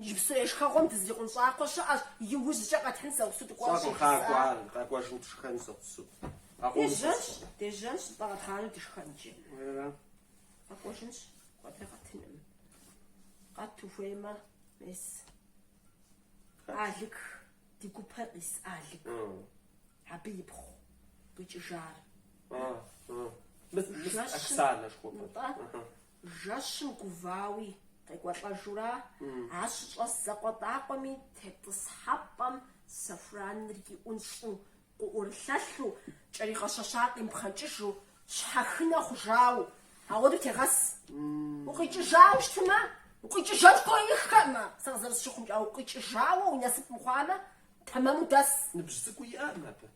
Иджыпсту ешхэгъуэм дызрикъун щӏакхъуэ щыӏэщ, иужькӏэ къэтхьын зэгъусу дыкӏуэнщ Щӏэкъым, ехыса. къакӏуэ ар, къэкӏуэжым дышхэн зэгъусу. Къэкӏуэну сэ Дежьэнщ, сыкъым. дежьэнщ, зыпӏэгъэтхъану дышхэн иджы. Уерэра? Къэкӏуэжынщ, куэдрэ къэтыным. Къэт ухуеймэ, мес. Хэт? Алык, ди гупэр къис Алык. Ы. Абы ипхъу къикӏыжар. Ы, ы. Мыс, мыс, Жэщым, Оксанэ жыхуэпӏэр. нтӏэ, Ыхьы. Жэщым гувауи, къекӏуэлӏэжурэ, ар щыщӏэс зэкъуэтӏакъуэми тетӏысхьэпӏэм сэхураныр иӏунщӏу, къыӏурылъэлъу, кӏэригъэщэщар къимыпхъэнкӏыжу, щхьэхынэ хъужауэ, ауэду тегъэс. Укъикӏыжауэ щытмэ, укъикӏыжын хуеиххэкъымэ, сэ къызэрысщыхъумкӏэ, укъикӏыжауэ уи насып мыхъуамэ, тэмэму дэс. Ныбжь цӏыкӏуи иӏэкъым абы.